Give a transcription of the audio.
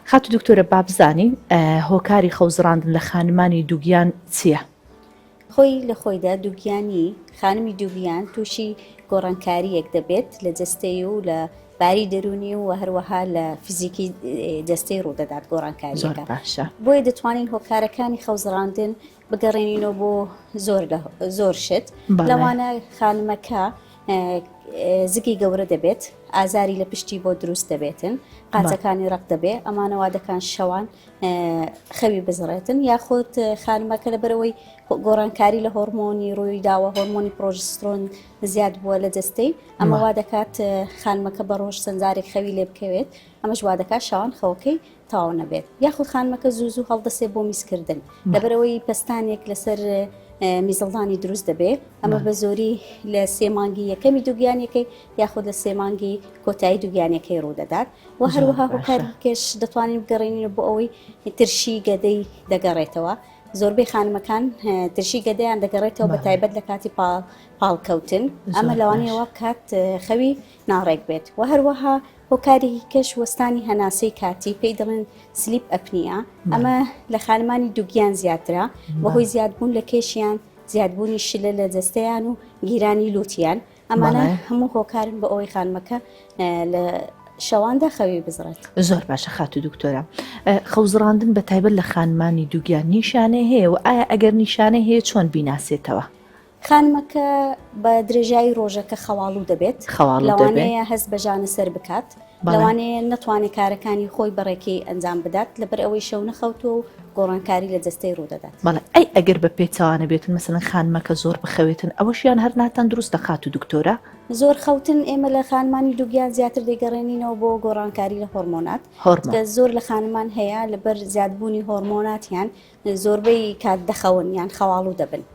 خاتو دکتۆرە بابزانین هۆکاری خەوزڕاندن لە خانمانی دوگیان چیە؟ خۆی لە خۆیدا دووگیانی خانمی دووگیان تووشی گۆڕانکاریەک دەبێت لە جستەی و لە باری دەرونی و هەروەها لە فیزیکی جستەی ڕوودەدات گۆڕانکاریەکە باشە بۆیە دەتوانین هۆکارەکانی خەوزڕاندن بگەڕێنینەوە بۆ زۆر زۆر شت لەوانە خانمەکە زگی گەورە دەبێت ئازاری لە پشتی بۆ دروست دەبێتن قازەکانی ڕق دەبێ ئەمانەوە دەکان شەوان خەوی بزڕێتن یاخود خانمەکە لە بەرەوەی گۆڕانکاری لە هۆرمۆنی ڕووی داوە هۆرمۆنی پرۆژسترۆن زیاد بووە لە جستەی ئەمەوا دەکات خانمەکە بە ڕۆژ سنجارێک خەوی لێ بکەوێت ئەمەش وا دەکات شەوان خەوەکەی تەواو نەبێت یاخود خانمەکە زوو زوو هەڵدەسێ بۆ میزکردن لەبەرەوەی پستانێک لەسەر میزڵدانی دروست دەبێت ئەمە بە زۆری لە سێمانگی یەکەمی دوگیانەکەی یاخود لە سێمانگی کۆتایی دوگیانەکەی ڕوودەدات و هەروەها هۆکارکەش دەتوانین بگەڕێنین بۆ ئەوەی ترشی گەدەی دەگەڕێتەوە زۆربەی خانمەکان ترشی گەدەیان دەگەڕێتەوە بە تایبەت لە کاتی پاڵکەوتن ئەمە لەوانەیەوە کات خەوی ناڕێک بێت و هەروەها هۆکارێکی کەش وەستانی هەناسەی کاتی پێی دەڵێن سلیپ ئەپنیە ئەمە لە خانمانی دوگیان زیاترە بەهۆی زیادبوون لە کێشیان زیادبوونی شلە لە جەستەیان و گیرانی لوتیان ئەمانە هەموو هۆکارن بە ئەوەی خانمەکە لە شەواندا خەوی بزڕێت زۆر باشە خاتو دکتۆرە خەوزڕاندن بە تایبەت لە خانمانی دووگیان نیشانەی هەیە و ئایا ئەگەر نیشانەی هەیە چۆن بیناسێتەوە خانمەکە بە درێژایی ڕۆژەکە خەواڵوو دەبێت لەوانەیە هەست بە ژانە سەر بکات لەوانەیە نەتوانێت کارەکانی خۆی بەڕێکەی ئەنجام بدات لەبەر ئەوەی شەو نەخەوتو و گۆڕانکاری لە جستەی ڕوودەدات بەڵێ ئەی ئەگەر بە پێچوانە بێتن مەسەن خانمەکە زۆر بخەوێتن ئەوەشیان هەر ناتەن دروست دەخات و دکتۆرە زۆر خەوتن ئێمە لە خانمانی دووگیان زیاتر دەگەڕێنینەوە بۆ گۆڕانکاری لە هۆرمۆنات زۆر لە خانمان هەیە لەبەر زیادبوونی هۆرمۆناتیان زۆربەی کات دەخەون یان خەواڵو دەبن.